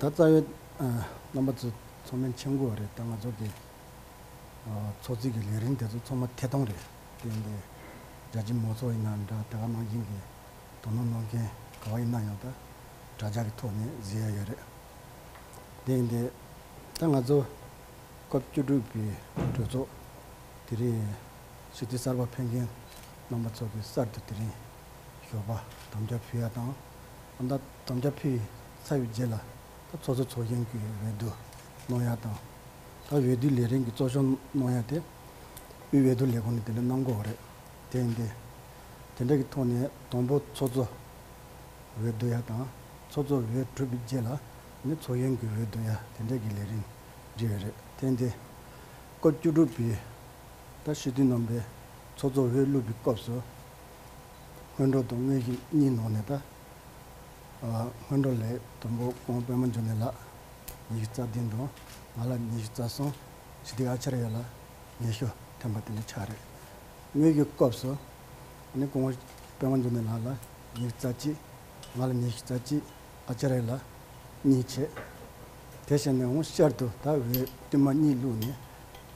ད་རྩ་བའི་རྣམ་པ་ཚོ་ཚོགས་མི་མཆན་འགོད་བ་རེད་ད་ང་ཚོ་གི་ཚོགས་རྩིས་ཀྱི་ལས་རིང་དེ་ཚོ་ཚོགས་མ་ཐེ་ཐོང་རེད་དེ་ཡིན་པའི་རྒྱ་ཆེན་མོ་ཚོ་ཡིན་ན་འདྲ་དེ་ག་ནང་བཞིན་གྱི་དོ་སྣང་གནང་མཁན་ག་བ་ཡིན་ན་ཡང་ད་དྲ་ཇག་གི་ཐོག་ནས་བཟི་ཡ་ཡོད་རེད་དེ་ཡིན་དེ་ད་ང་ཚོ་སྐབས་བཅུ་དྲུག་པའི་གྲོས་ཚོགས་དེ་རིང་ཞི་བདེ་གསར་པ་འཕེལ་མཁན་རྣམ་པ་ཚོ་གི་གསར་དུ་དེ་རིང་ཞོགས་པ་དམ་བཅའ་ཕུལ་ཡ་དང། ད་ལྟ་དམ་བཅའ་ཕུལ་ཚར་བའི་རྗེས་ལ་ད་ཚོགས་གཙོ་ཚོགས་གཞོན་གྱི་འོས་བསྡུ་གནང་ཡ་དང། ད་འོས་བསྡུའི་ལས་རིང་གི་གཙོ་གཞོན་གནང་ཡ་དེ་དབུས་འོས་བསྡུ་ལས་ཁུངས་ནས་དེ་ལས་གནང་དགོས་བ་རེད། དེ་ཡིན་ཏེ། དེ་འདྲ་གི་ཐོག་ནས་དང་པོ་ཚོགས་གཙོ་འོས་བསྡུ་ཡ་དང། ཚོགས་གཙོ་འོས་གྲུབ་པའི་རྗེས་ལ་ནི་ཚོགས་གཞོན་གྱི་འོས་བསྡུ་ཡ་དེ་འདྲ་གི་ལས་རིང་འབྲི་ཡོད་རེད། དེ་ཡིན་ཏེ། སྐབས་བཅུ་དྲུག་པའི་ཟླ་ཞེ་བདུན་ནང་པའི་ཚོགས་གཙོ་བྷེ་བླུ་བི་སྐབས་སུ། སྔོན་འགྲོ་དང་དངོས་གཞི་གཉིས་ནང་ནས་ད། སྔོན་འགྲོ་ལས་དང་པོ་ཁོང་པད་མ་འབྱུང་གནས་ལགས་ཉི་ཤུ་རྩ་བདུན་དང་ང་ལ་ཉི་ཤུ་རྩ་གསུམ་ཞི་བདེ་ཨ་ཆར་ཡ་ལ་ཉི་ཤུ་ཐེམ་པ་དེ་འདྲ་ཆགས་རེད། དངོས་གཞི་སྐབས་སུ་ནི་ཁོང་པད་མ་འབྱུང་གནས་ལགས་ལ་ཉི་ཤུ་རྩ་གཅིག་ང་ལ་ཉི་ཤུ་རྩ་གཅིག། ཨ་ཅེ་རེ་ལ་གཉིས་བྱས། དེ་བྱས་ནས་འོང་ཤར་དུ་ད་འོད་ཏིལ་མ་གཉིས་བླུགས་ནས།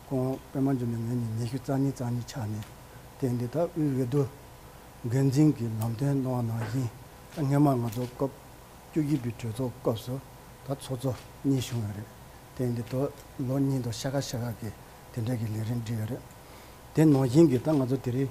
ཀོང་པད་མ་འཇུ་ནས་ངེད་གཉིས་ཉི་ཤུ་རྩ་གཉིས་རྩ་གཉིས་ཆགས་ནས། དེ་འདི་ད་དབུས་འོད་དུ། འགན་འཛིན་གྱི་ལམ་སྟོན་གནང་བ་ནང་བཞིན་ད་སྔན་མ་ང་ཚོ་སྐབས་བཅུ་བཞི་པའི་གྲོས་ཚོགས་སྐབས་སུ་ད་ཚོགས་གཙོ་གཉིས་བྱུང་ཡོད་རེད། དེ་འདི་ད་ལོ་གཉིས་འདུག་ཤ་ཁ་ཤ་ཁ་གིས་དེ་འདྲ་གི་ལས་རིམ་བསྒྲིགས་ཡོད་རེད། དེ་ནང་བཞིན་གྱི་ད་ང་ཚོ་དེ་རིང་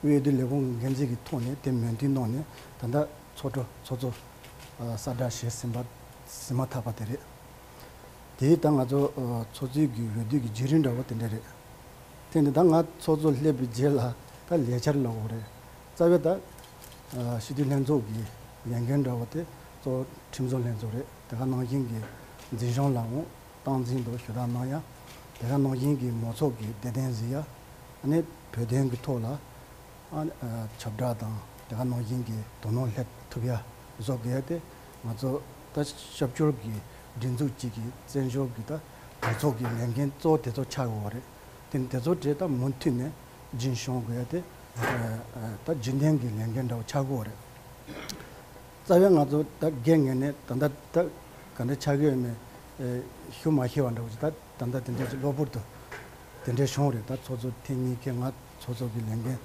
དབུས་བདེ་ལེགས་གོང་གི་འགན་འཛིན་གྱི་ཐོག་ནས་དེ་མོས་མཐུན་གནང་ནས་ད་ལྟ་ཚོགས་ཁྲོ་ཚོགས་གཙོ་གསར་བསྒྲགས་བྱས་ཟིན་པ་ཟིན་མ་ཐག་པ་དེ་རེད། དེས་ད་ང་ཚོ་ཚོགས་གཙོའི་གི་འོས་བསྡུ་གི་བརྗེ་རིན་འདྲ་བོ་དེ་འདྲ་རེད། དེ་ནི་ད་ང་ཚོགས་གཙོ་སླེབས་པའི་རྗེས་ལ་ད་ལས་འཆར་ལ་འོ་རེད། རྩ་བའི་ད་སྤྱི་འཐུས་ལྷན་ཚོགས་ཀྱི་ལས་འགན་འདྲ་བོ་དེ་གཙོ་ཁྲིམས་བཟོ་ལྷན་ཚོགས་རེད་དེ་ག་ནང་བཞིན་གྱི་འཛིན་བྱང་ལའང་སྟངས་འཛིན་དུ་ཞུ་དག་གནང་ཡ། དེ་ག་ནང་བཞིན་གྱི་མོ་ཚོགས་ཀྱི་བདེ་ལྡན་གཟིགས་ཡ། ནས་བོད་དོན་གྱི་ཐོག་ལ། ཁྱབ་བསྒྲགས་དང་དེ་ག་ནང་བཞིན་གྱི་དོ་སྣང་སླེབས་ཐུབ་ཡ། བཟོ་གལ་ཏེ་ང་ཚོ་ད་ཤབ་སྐྱོར་གྱི་སྒྲིག་འཛུགས་གཅིག་གི་བཙན་བྱོལ་གྱི་ད་གྲོས་ཚོགས་ཀྱི་ལས་འགན་གཙོ་བོ་དེ་ཚོ་ཆགས་ཡོད་བ་རེད། དེ་དེ་ཚོ་གྲས་ད་མུ་མཐུད་ནས་སྦྱིན་ཤོང་གལ་ཏེ། ད་རྗེས་འདེང་གི་ལས་འགན་འདྲ་བོ་ཆགས་དགོས་བ་རེད། རྩ་བའི་ང་ཚོ་ད་རྒས་ངན་ནས་ད་ལྟ་ད་ག་འདྲ་ཆགས་ཀྱི་ཡོད་མེད་ཞུ་མ་ཤེས་བ་འདྲ་བོ་ཞིག་ད་ད་ལྟ་དེ་འདྲ་ཞིག་གློ་བུར་དུ་དེ་འདྲའི་བྱུང་བ་རེད་ད་ཚོགས་གཙོ་ཐེངས་གཉིས་ཀས་ང་ཚོགས་གཙོ་གི་ལས་འགན་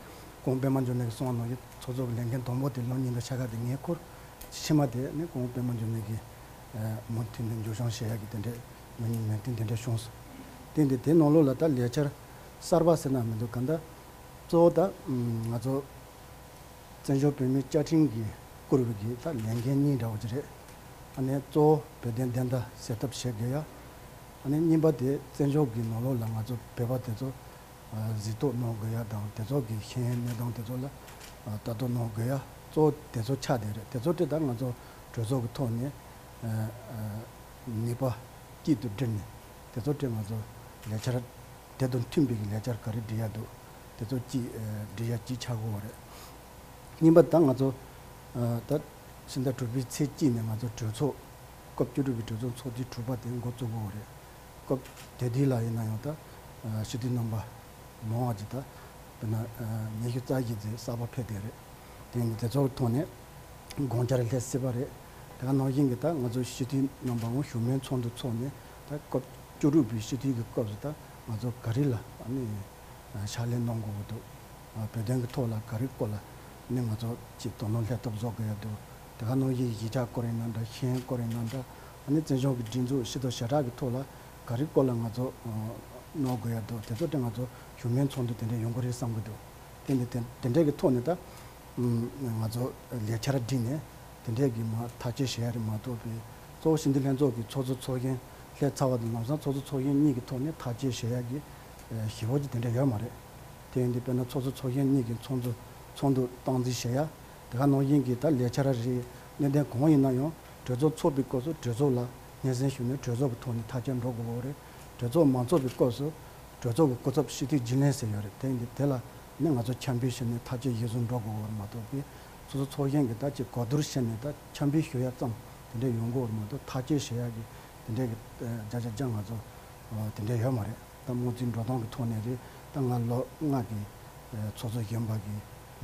ཀོང་པད་མ་འབྱོར་ནས་ཀྱི་སོང་བ་ནང་གི་ཚོགས་གཙོ་གི་ལས་འགན་དང་པོ་དེ་ལོ་གཉིས་འདྲ་ཆགས་ཁ་དེ་ངའི་ཁུར་ཕྱི་མ་དེ་ནི་ཀོང་པད་མ་འབྱོར་ནས་ཀྱིས་མུ་མཐུད་ནས་འཇུ་བྱང་བྱེད་ཡག་གི་དེ་འདྲའི་མི་ཉིད་མེད་དུས་དེ་འདྲ་བྱུང་སོང་དེ་འདི་དེ་ནང་ལོགས་ལ་ད་ལས་འཆར་གསར་པ་ཟེར་ན་མི་འདུག་ག་འདྲ་གཙོ་བོ་ད་ང་ཚོ། བཙན་བྱོལ་བོད་མིའི་བཅའ་ཁྲིམས་ཀྱིས་བསྐུར་བའི་གྱི་ལྷག་ལས་འགན་གཉིས་འདྲ་བ་གཅིག་རེད། ཨ་ནི་གཙོ་བོ་བོད་དོན་བདེན་མཐའ་གསལ་ཐབས་བྱེད་དགོས་ཡ། ཨ་ནི་གཉིས་པ་དེ་བཙན་བྱོལ་གྱི་ནང་ལོགས་ལ་ང་ཚོ་བོད་པ་དེ་ཚོ་གཟིགས་རྟོག་གནང་དགོས་ཡ་དང་དེ་ཚོ་གི་ཤེས་ཡོན་གནས་སྟངས་དེ་ཚོ་ལ་ལྟ་རྟོག་གནང་དགོས་ཡ་གཙོ་བོ་དེ་ཚོ་ཆ་དེ་རེད་དེ་ཚོ་དེ་དག་ང་ཚོ་གྲོས་ཚོགས་ཀྱི་ཐོག་ནས་ནུས་པ་སྐྱིད་དུ་བསྒྲིལ་ནས་དེ་ཚོ་དེ་ང་ཚོ་ལས་འཆར་དེ་དང་མཐུན་པའི་ལས་འཆར་ག་རེ་འབྲི་ཡག་འདུག་དེ་ཚོ་གཅིག་འབྲི་ཡག་གཅིག་ཆགས་དགོས་བ་རེད། གཉིས་པ་ད་ང་ཚོ་ད་ཕྱི་ཟླ་དྲུག་པའི་ཚེས་གཅིག་ནས་ང་ཚོ་གྲོས་ཚོགས། སྐབས་བཅུ་དྲུག་པའི་གྲོས་ཚོགས་ཚོགས་དུས་དྲུག་པ་དེ་འགོ་བཙུགས་དགོས་བ་རེད། སྐབས་དེ་དུས་ལ་ཡིན་ན་ཡང་ད་ཕྱི་དུས་རྣམ་པ་མང་བ་ཅིག་ད་དཔེར་ན་ཉི་ཤུ་རྩ་བཞི་ཚེས་གསར་པ་ཕེབས་བསྡད་རེད། དེ་ཡིན་དུས་དེ་ཚོ་ཐོག་ནས་དགོངས་འཆར་སླེབས་སྲིད་བ་རེད། དེ་ག་ནང་བཞིན་གྱི་ད་ང་ཚོ་ཕྱི་དུས་རྣམ་པའང་བཞུགས་མོལ་ཚོགས་འདུ་ཚོགས་ནས་ད་སྐབས་བཅུ་དྲུག་པའི་སྤྱི་འཐུས་ཀྱི་སྐབས་སུ་ད་ང་ཚོ་ག་རེ་ལ་ཕྱག་ལས་གནང་དགོས་ཀྱི་འདུག་བོད་དོན་གྱི་ཐོག་ལ་ག་རེ་སྐོར་ལ་ནས་ང་ཚོ་ཅིག་དོ་སྣང་ལྷན་ཐབས་བཟོ་དགོས་ཡ་འདུག་དེ་ག་ནང་བཞིན་གཞིས་ཆགས་སྐོར་ཡིན་ན་འདྲ་གཞན་སྐོར་ཡིན་ན་འདྲ་བཙན་བྱོལ་གྱི་སྒྲིག་འཛུགས་ཤི་ཐོ་ཞེ་དྲག་གི་ཐོག་ལ་ག་རེ་སྐོར་ལ་ང་ཚོ་གནང་དགོས་ཡ་འདུག་དེ་ཚོ་ཏེ་ང་ཚོ་བཞུགས་མོལ་ཚོགས་འདུ་དེ་འདྲ་ཡོང་གི་རེད་བསམ་གྱི་འདུག་དེ་ནས་དེ་འདྲ་གི་ཐོག་ནས་ད། ང་ཚོ་ལས་འཆར་བསྒྲིགས་ནས་དེ་འབྲེལ་གྱི་མ་ཐག་བཅད་བཞེས་རེ་མ་གཏོགས་པའི་གཙོ་བོ་ཞིང་སྡེ་ལྷན་ཚོགས་ཀྱི་ཚོགས་གཙོ་ཚོགས་གཞོན་ལྷས་ཚ་བ་དང་ལམ་སང་ཚོགས་གཙོ་ཚོགས་གཞོན་གཉིས་ཀྱི་ཐོག་ནས་ཐག་བཅད་བཞེས་ཡག་གི་ཞེས་འོག་ཅིག་དེ་འདྲ་ཡོད་མ་རེད། དེ་ཡིན་དུས་དཔེར་ན་ཚོགས་གཙོ་ཚོགས་གཞོན་གཉིས་ཀྱི་ཚོགས་འདུ་ཚོགས་འདུ་སྟངས་འཛིན་བཞེས་ཡག་དེ་ག་ནང་བཞིན་གྱི་ད་ལས་འཆར་རེའི་གནད་དོན་གང་ཡིན་ན་ཡང་གྲོས་ཚོགས་ཚོགས་པའི་སྐོར་སུ་གྲོས་ཚོགས་ལ་སྙན་སེང་ཞུས་ནས་གྲོས་ཚོགས་ཀྱི་ཐོག་ནས་ཐག་བཅད་འགྲོ་དགོས་པ་འོ་རེད། གྲོས་ཚོགས་མ་ཚོགས་པའི་སྐོར་སུ་གྲོས་ཚོགས་ཀྱི་སྐུ་ཚབ་ཤི་དུས་སྦྱིན་ལན་ཟེར་ཡོད་རེད་དེ་ཡིན་དུས་དེ་ལ་ནི་ང་ཚོ་འཁྱམས་པའི་ཕྱིར་ནི་ཐག་ཆོད་ཡིག་གཟུགས་འགྲོ་དགོས་བར་མ་གཏོགས་པའི་སོ་སོ་ཚོགས་གཞན་གྱི་ད་ཅི་གོ་བསྡུར་བྱས་ནས་ད་འཁྱམས་པའི་ཞུ་ཡག་ཙམ་དེ་འདྲས་ཡོང་དགོས་བར་མ་གཏོགས་ཐག་གཅོད་བྱེད་ཡག་གི་དེ་འདྲས་ཀྱི་བརྒྱ་ཆ་རྒྱ་ང་ཚོ་དེ་འདྲས་ཡོད་མ་རེད་ད་དམུ་རྩིས་འགྲོ་སྟངས་ཀྱི་ཐོག་ནས་རེད་ད་ང་ལོ་ལྔ་གི་ཚོགས་གཙོ་གཞོན་པ་གི་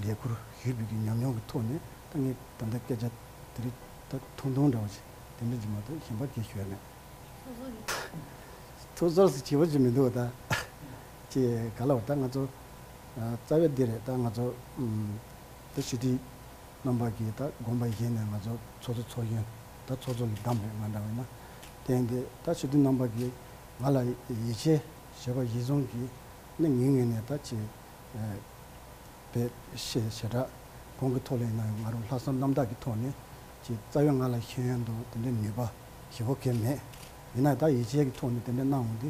ལས་ཁུར་ཞུས་ཕུད་ཀྱི་ཉམས་མྱོང་གི་ཐོག་ནས་ད་ངས་ད་ལྟ་སྐད་ཆ་དེ་རིགས་ད་ཐུང་ཐུང་འདྲ་བ་ཞིག་དེ་འདྲས་ཀྱི་མ་གཏོགས་གཞན་པ་གས་ཞོལ་མེད། ཐུགས་ཟོར་ཟིག་བྱེད་པོ་ཞིག་མི་འདུག་ད། ཅེས་ག་ལ་བ་ད་ང་ཚོ་རྩ་བའི་འདི་རེད་ད་ང་ཚོ་ད་ཞི་བདེའི་རྣམ་པ་གིས་ད་དགོངས་པ་བཞེས་ནས་ང་ཚོ་ཚོགས་གཙོ་ཚོགས་གཞོན་ད་ཚོགས་གཙོ་ལ་བདམས་རེད་ང་འདྲ་བས་ན་བསྟན་ཏེ་ད་ཞི་བདེའི་རྣམ་པ་གིས་ང་ལ་ཡིད་ཆེས་བྱེད་པ་བཞི་བཟུང་གིས་ནི་ངེད་ངེད་ནས་ད་ཅེས་པའི་ཞེ་དྲག་གོང་གི་ཐོག་ལེན་ན་ང་རང་ལྷག་བསམ་རྣམ་དག་གི་ཐོག་ནས་ཀྱི་རྩ་བའི་ང་ལ་ཤེས་ཡོན་དང་དེ་འདྲའི་ནུས་པ་ཞིབ་བོ་གལ་མེད་ཡིན་ན་ད་ཡིད་ཆེས་ཀྱི་ཐོག་ནས་དེ་འདྲ་གནང་འོང་དེ་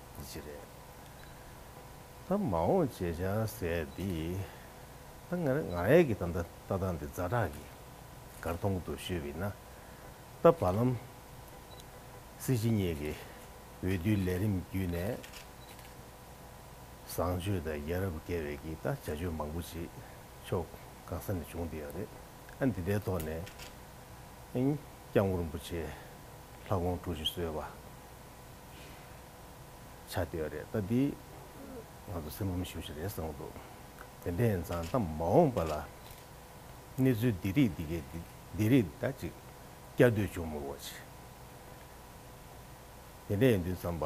འདི་ཅི་རེད། ད་མ་འོངས་བྱས་བྱས་ཟེར་དེ། ད་ང་རེ་ང་རེ་གི་ད་ལྟ་སྟངས་འདི་རྫ་བྲག་གི་སྒར་སྟོང་དུ་བཞུད་པའི་ན་ད་བར་ལམ་སྲིད་སྤྱི་གཉིས་ཀྱི་འོས་བསྡུའི་ལས་རིམ་བརྒྱུད་ནས་བཟང་སྤྱོད་དང་ཡ་རབས་བརྒལ་བའི་གི་ད་བྱ་སྤྱོད་མང་པོ་ཅིག་ཕྱོགས་གང་ས་ནས་བྱུང་འདི་ཡང་རེད་ཨ་འདི་ལྟའི་ཐོག་ནས་ཨིན་སྐྱབས་མགོན་རིན་པོ་ཆེ་ལྷ་དགོངས་དཀྲུག་བྱེད་བཟོད་པ། ཆ་བལྟས་པ་རེད་ད་འདིས་ང་ཚོ་སེམས་ངམ་ཤུགས་ཤིག་རེད་བསམ་འདུག་དེ་འདྲའི་ཡིན་ཙང་ད་མ་འོངས་པ་ལ་གནས་ཚུལ་འདི་རིགས་འདི་གས་འདི་རིགས་ད་ཅིག་སྐྱར་ཟློས་བྱུང་མོད་བ་ཅིག་དེ་འདྲས་ཡིན་དུས་འཚམས་པ་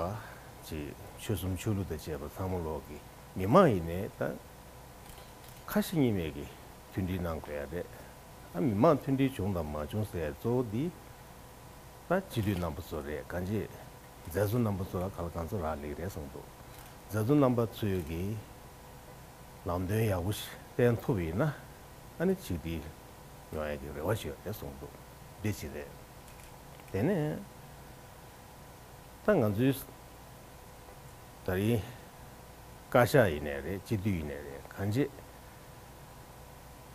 ཅིག་ཆོལ་གསུམ་ཆོས་ལུགས་དང་བཅས་པ་ཚང་མ་ལོག་གི་མི་མང་ཡིན་ནས་ད་ཁ་ཞེ་གཉིས་མེད་ཀྱི་མཐུན་སྒྲིལ་གནང་དགོས་ཡ་རེད་ཨ་མི་མང་མཐུན་སྒྲིལ་བྱུང་དང་མ་བྱུང་ཟེར་གཙོ་བོ་འདི། ད་སྤྱི་འཐུས་རྣམ་པ་ཚོ་རེད་ག་འཇེ། མཛད་གཙོ་རྣམ་པ་ཚོ་ལ་ག་ལ་གང་ཚོ་རག་ལེགས་རེད་གསུངས་འདུག་མཛད་གཙོ་རྣམ་པ་ཚོས་ཀྱི་ལམ་སྟོན་ཡག་པོ་ཞིག་བསྟན་ཐུབ་ཡིན་ན་ཨ་ནི་ཆིག་སྒྲིལ་ཡོང་ཡག་གི་རེ་བ་ཞིག་ཡོད་རེད་གསུངས་འདུག་འདི་ཅི་རེད། དེ་ནས་ད་ང་ཚོའི་ད་རིང་བཀའ་ཤག་ཡིན་ནས་རེད་སྤྱི་འཐུས་ཡིན་ནས་རེད་ག་འཇེ།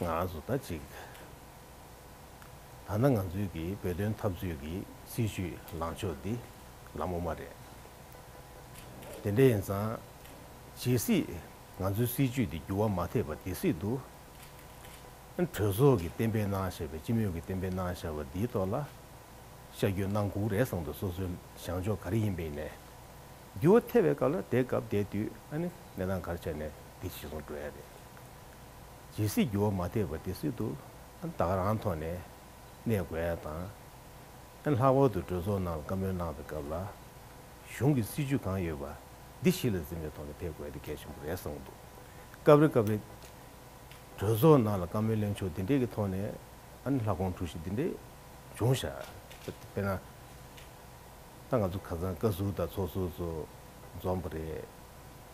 ང་ཚོ་ད་གཅིག་ད་ན་ང་ཚོའི་གི་བོད་དོན་འཐབ་རྩོད་གི་སྲིད་ཇུས་ལངས་ཕྱོགས་འདི་ལ་མོ་མ་རེད། དེ་འདྲ་ཡིན་ཙང་ཇི་སྲིད་ང་ཚོའི་སྲིད་ཇུས་འདི་འགྱུར་བ་མ་ཐེབས་པ་དེ་སྲིད་དུ་གྲོས་ཚོགས་གི་གཏན་འབེབས་གནང་བཞག་པའི་སྤྱི་མོས་གི་གཏན་འབེབས་གནང་བཞག་པ་འདིའི་ཐོག་ལ་ཤ་རྒྱུད་གནང་གུག་རེ་སང་དུ་སོ་སོའི་བཞང་ཕྱོགས་ག་རེ་ཡིན་པའི་ནས་འགྱུར་བ་ཐེབས་པའི་སྐབས་ལ་དེ་སྐབས་དེ་དུས་ཨ་ནི་གནས་སྟངས་གར་ཆགས་ནས་འདི་ཞིག་སོང་འགྲོ་ཡ་རེད། ཇི་སྲིད་འགྱུར་བ་མ་ཐེག་པ་དེ་སྲིད་དུ་བདག་རང་ཐོག་ནས་གནས་དགོས་ཨེ་དང། ལྷག་པར་དུ་གྲོས་ཚོགས་ནང་ལ་བཀའ་མོལ་གནང་པའི་སྐབས་ལ། གཞུང་གི་སྲིད་བྱུས་གང་ཡོད་པ་འདི་གཞི་ལ་འཛིན་པའི་ཐོག་ནས་ཕེབས་དགོས་དེ་གལ་ཆེན་པོ་རེད་གསུངས་འདུག་སྐབས་རེ་སྐབས་རེ། གྲོས་ཚོགས་ནང་ལ་བཀའ་མོལ་གླེང་ཕྱོགས་འདི་འདྲའི་གི་ཐོག་ནས་ལྷ་ཁོང་གྲུ་བཞི་འདི་འདྲའི་བྱུང་ཞག་དཔེར་ན། ད་ང་ཚོ་ཁ་ཚང་བཀའ་ཟུར་དང་ཚོགས་ཟུར་ཚོ་འཛོམས་པ་རེད།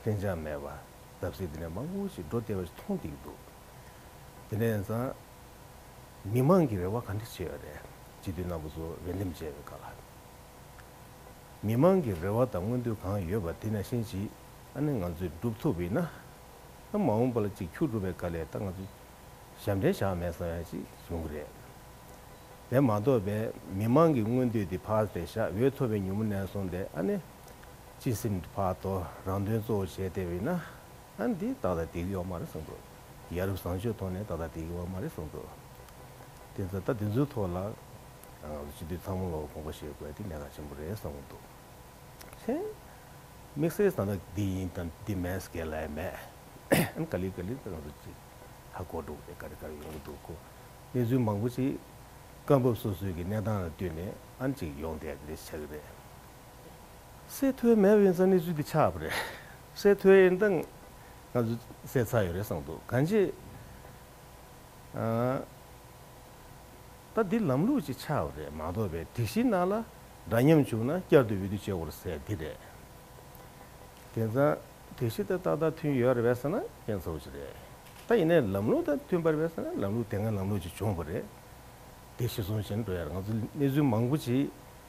བརྟན་འཇགས་མེད་པར་བརྡབ་གསིག་དེ་ནས་མང་པོ་ཞིག་འགྲོ་བསྡད་པ་ཞིག་མཐོང་བསྡད་ཀྱི་འདུག་དེ་ནས་བཟང། མི་མང་གི་རེ་བ་ག་འདྲ་ཆེ་བ་རེད་སྤྱི་འཐུས་རྣམ་པ་ཚོ་འོས་འདེམས་བྱས་པའི་སྐབས་ལ། མི་མང་གི་རེ་བ་དང་མངོན་འདོད་གང་ཡོད་པ་དེ་ནང་བཞིན་གྱིས་ཨ་ནི་ང་ཚོས་བསྒྲུབ་ཐུབ་པ་ཡིན་ན། ད་མ་འོངས་པ་ལ་གཅིག་འཁྱུག་འགྲོ་བའི་སྐབས་ལས་ད་ང་ཚོ་ཞབས་འདྲེན་བཞག་མེད་བསམ་ཡ་ཅིག་བྱུང་གི་རེད། དེ་མ་གཏོགས་པའི་མི་མང་གི་མངོན་འདོད་དེ་ཕར་ཟད་བཞག་འོས་ཐོབ་པའི་མྱུར་མོ་ནས་སོང་སྟེ་ཨ་ནི། ཅི་སེམས་ཀྱི་བར་དོ་རང་དོན་གཙོ་བོ་བྱས་བལྟས་པས་ན། འདི་ཏག་ཏག་སྡིག་ཡོད་མ་རེད་བསམ་དགོས། ཡ་རབས་བཟང་སྤྱོད་ཐོག་ནས་ཏག་ཏག་སྡིག་ཡོད་མ་རེད་བསམ་དགོས། དེ་ཚོ་ད་དེ་ཚོའི་ཐོག་ལ་ང་ཚོ་སྤྱི་འཐུས་ཚང་མ་ལ་དགོངས་པ་བཞེས་དགོས་འདི་གནད་འགག་ཆེན་པོ་རེད་བསམ་གྱི་འདུག་ཧྲེང། དམིགས་བསལ་ད་ལྟ་འདི་ཡིན་དང་འདི་མེད་ཟེར་མཁན་ལ་ཡང་མེད། ག་ལེར་ག་ལེར་ད་ང་ཚོ་ཅིག་ཧ་གོ་འགྲོ་གི་རེད་ག་རེ་ག་རེ་ཡོང་གི་འདུག་གོ། གནས་ཚུལ་མང་པོ་ཅིག་སྐབས་བབ་སོ་སོའི་གི་གནས་སྟངས་ལ་བསྟུན་ནས་ཨང་ཅིག་ཡོང་བསྡད་གི་རེད་བྱ་གི་རེད། སའི་ཐོའི་མེ་དབྱིངས་རྩ་ནི་ཚུལ་འདི་ཆགས་པ་རེད། སའི་ཐོའི་དབྱིངས་མདངས་ང་ཚོས་གསལ་ཚར་ཡོད་རེད་བསམ་འདུག་གང་ཅི། ད་འདི་ལམ་ལུགས་ཅིག་ཆགས་པ་རེད་མ་གཏོགས་པའི་སྒྲིག་གཞི་ནང་ལ་འདྲ་མཉམ་བྱུང་ན་བསྐྱར་དུ་འོས་བསྡུ་བྱེད་དགོས་ཟེར་འདི་རེད། དེ་ཚང་སྒྲིག་གཞི་དང་ཏག་ཏག་མཐུན་ཡོད་རེད་བས་ས་ན་རྐྱེན་ཚ་བོ་ཅིག་རེད། ད་ཡིན་ནའི་ལམ་ལུགས་དང་མཐུན་པར་བས་ས་ན་ལམ་ལུགས་དེ་སྔའི་ལམ་ལུགས་ཅིག་བྱུང་བ་རེད། འདི་གཞི་བཟུང་བཞིན་འགྲོ་ཡ་རེད་ང་ཚོ་གནས་ཚུལ་མང་པོ་ཅིག་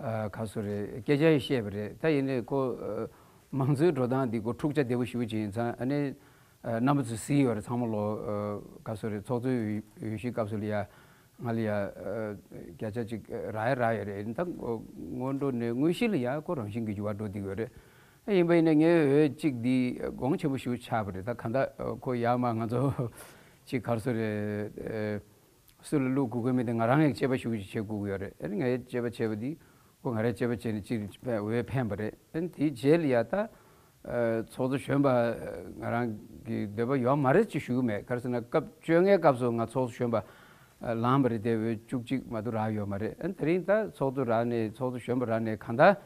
ག་ཚོད་རེད་སྐད་ཆ་ཡིས་བཤད་པ་རེད་ད་ཡིན་ནའི་ཁོ། མང་གཙོའི་འགྲོ་སྟངས་འདི་སྐོར་འཁྲུག་ཆ་བདེ་པོ་ཞུ་བྱེད་ཡིན་ཚ་ཨ་ནེ། རྣམ་པ་ཚོ་བཟི་ཡོད་རེད་ཚང་མ་ལོ། ག་ཚོད་རེད་ཚོགས་གཙོའི་འོས་གཞིའི་སྐབས་སུ་ལ་ཡ། ང་ལ་ཡ། བརྒྱ་ཆ་གཅིག་ར་ཡ་རག་ཡོད་རེད་ཡིན་ད། སྔོན་འགྲོ་ནས་དངོས་གཞི་ལ་ཡ་ཁོ་རང་བཞིན་གྱི་འགྱུར་བ་འགྲོ་བསྡད་ཡོད་རེད། ཨ་ཡིན་པ་ཡིན་ནའི་ངའི་འོས་གཅིག་འདི་དགོངས་ཆེན་པོ་ཞུ་ཆགས་པ་རེད་ད་ག་ད་ཁོ་ཡ་མ་ང་ཚོ། གཅིག་ག་ཚོད་རེད། སུ་ལ་བླུག་དགོས་དགོས་མེད་དེ་ང་རང་ཡག་སྤྱད་པ་ཞུགས་ཀྱིས་བྱེད་དགོས་ཀྱི་ཡོད་རེད་ཨན་ང་ཡག་སྤྱད་པ་བྱས་པ་དེ་ཁོ་ང་རང་སྤྱད་པ་བྱས་ནས་ཅིག་བས་འོས་འཕེན་པ་རེད་ཨན་དེའི་རྗེས་ལ་ཡ་ད། ཚོགས་གཙོ་གཞོན་པ་ང་རང་གི་འདོད་པ་ཡོད་མ་རེད་ཅིག་ཞུ་གི་མེད་ག་རེ་ཟེར་ན་སྐབས་བཅོ་ལྔའི་སྐབས་སུ་ང་ཚོགས་གཙོ་གཞོན་པ་ལངས་པ་རེད་དེ་འོས་བཅུ་གཅིག་མ་གཏོགས་རག་ཡོད་མ་རེད་ཨན་དེ་རིང་ད་ཚོགས་གཙོ་རག་ནས་ཚོགས་གཙོ་གཞོན་པ་རག་ནས་གང་ད།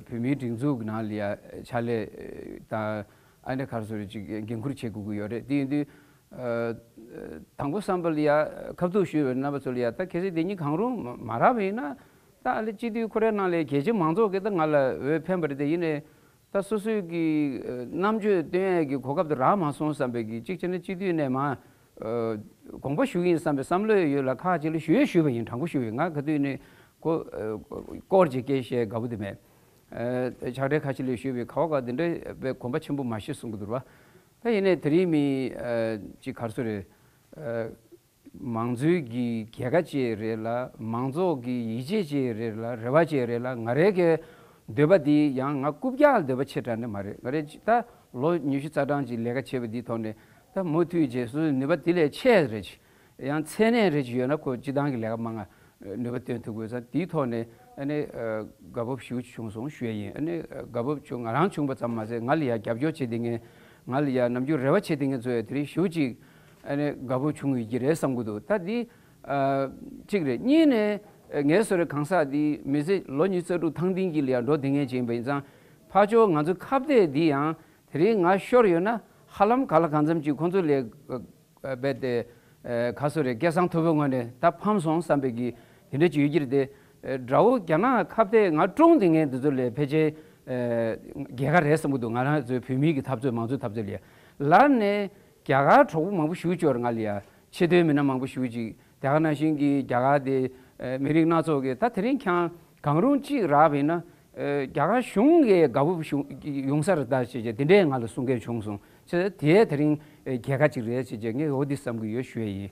བོད་མིའི་སྒྲིག་འཛུགས་ཀྱི་ནང་ལ་ཡ་ཕྱག་ལས་དང་ཨ་ནེ་ག་རེ་ཟོ་རེད་ཅིག་འགན་ཁུར་བྱེད་དགོས་ཀྱི་ཡོད་རེད་དེ་ཡིན་དུས་དང་པོ་བསམ་པ་ལ་ཡ། ཁབ་གཙུག་བཞུ་བའི་རྣམ་པ་ཚུལ་ལ་ཡ། ད་གལ་སྲིད་དེ་གཉིས་གང་རུང་མ་རག་པ་ཡིན་ན། ད་ཨ་ལེ་སྤྱི་འཐུས་ཁོ་རའི་ནང་ལས་གལ་ཆེ་མང་ཚོགས་ཀྱིས་ད་ང་ལ་འོས་འཕེན་པ་རེད་དེ་ཡིན་ནས། ད་སོ་སོའི་གི་རྣམ་དཔྱོད་བཏོན་ཡས་ཀྱི་གོ་སྐབས་དེ་རག་མ་སོང་བསམ་པའི་གི་གཅིག་བྱས་ན་སྤྱི་འཐུས་ནས་མ། དགོངས་པ་ཞུ་ཡིན་བསམ་པའི་བསམ་བློ་ཡོད་ལ་ཁག་ཅིག་ལ་ཞུ་ཡས་ཞུས་པ་ཡིན་དྲང་པོ་ཞུ་ཡས་ང་ག་དུས་ནས་གོ། སྐོར་གྱི་སྐད་བཤད་དགའ་པོ་དེ་མེད། ཆགས་བྲལ་ཁ་ཆེ་ལས་ཞུས་པའི་ཁ་བ་འགའ་དེ་འདྲ་བས་གོམས་པ་ཆེན་པོ་མ་ཤེས་གསུང་གི་དུར་བ། ད་ཡིན་ནའི་དེ་རིང་མི་གཅིག་གར་སོ་རེད། མང་གཙོའི་གི་རྒྱལ་ཁ་བཅས་རེད་ལ་མང་ཚོགས་གི་ཡིད་ཆེས་བཅས་རེད་ལ་རེ་བ་བཅས་རེད་ལ་ང་རེ་གའི་འདོད་པ་འདི་ཡང་ང་རྐུབ་བཀྱག་ལ་འདོད་པ་ཆེ་དྲག་ནི་མ་རེད་ང་རེ་ད་ལོ་ཉི་ཤུ་རྩ་གྲངས་ཀྱི་ལས་ཀ་བྱས་པ་འདི་ཐོག་ནས་ད་མུ་མཐུད་རྗེས་སུ་ནུས་པ་དེ་ལས་ཆེ་རེ་བྱེད། ཡང་མཚན་གནས་རེ་ཅིག་ཡོད་ན་ཁོས་སྤྱི་བཏང་གི་ལས་ཀ་མ་ང་ནུས་པ་སྟོན་ཐུབ་དགོས་ས་དེའི་ཐོག་ནས་དགའ་བབས་ཞུ་བྱུང་སོང་ཞུ་ཡ་ཡིན། དགའ་བབས་ཆུང་ང་རང་བྱུང་བ་ཙམ་མ་ཟད་ང་ལ་ཡང་རྒྱབ་སྐྱོར་བྱེད་དེ་ངས་ང་ལ་ཡང་ནམ་རྒྱུན་རེ་བ་བྱེད་དེ་ངས་ཚོ་ཡ་དེ་རིང་ཞུ་ཅིག་དགའ་བབས་བྱུང་ཡོད་ཀྱི་རེད་བསམ་གི་འདུག་ད་འདི་གཅིག་རེད་གཉིས་ནས་ངའི་བཟོ་རེ་གང་ཟག་འདི་མི་ཚེ་ལོ་གཉིས་རྩ་དྲུག་ཐང་ཐིང་གི་ལས་འགྲོ་དེ་ངས་བྱེད་ཡིན་པ་ཡིན་ཙང་ཕ་ཅོ་ང་ཚོ་ཁ་བརྡའི་འདི་ཡང་དེ་རིང་ང་ཤོར་ཡོད་ན་ཧ་ལམ་ག་ལ་གང་འཚམ་ཅིག་ཁོང་ཚོ་ལས་རྦད་དེ། ག་སུ་རེ་སྐལ་བཟང་ཐུ་བོའི་ངོས་ནས་ད་ཕམ་སོང་བསམ་པའི་གིས་དེ་འདྲའི་ཇུས་གྱིར་ཏེ། དགྲ་བོ་རྒྱ་ནག་ཁ་བརྡས་ང་ཀྲུང་དེ་ངས་འདི་ཚོ་ལས་ཕལ་ཆེར། རྒྱལ་ཁ་རེད་བསམ་གྱི་འདུག་ང་རང་ཚོའི་བོད་མིའི་གི་འཐབ་རྩོད་མང་གཙོའི་འཐབ་རྩོད་ལ་ཡ། ལར་ནས་རྒྱ་གར་གྲོགས་པོ་མང་པོ་ཞུ་བཅོར་ང་ལ་ཡ། ཆེ་མཐོའི་མི་སྣ་མང་པོ་ཞུ་ཅིག་རྒྱ་གར་ནང་བཞིན་གྱི་རྒྱ་གར་དེ་མི་རིགས་སྣ་ཚོགས་ཀྱི་ད་དེ་རིང་འཁྱང་གང་རུང་གཅིག་རག་པས་ན། རྒྱ་གར་གཞུང་གི་དགའ་བོ་ཡོང་ས་རེད་ད་ཅེས་དེ་འདྲས་ང་ལ་གསུང་མཁན་བྱུང་སོང་ཚེ་དེས་དེ་རིང་རྒྱལ་ཁ་གཅིག་རེད་ཅེས་ངས་འོ་དེ་བསམ་གྱི་ཡོད་ཞུས་ཡིན།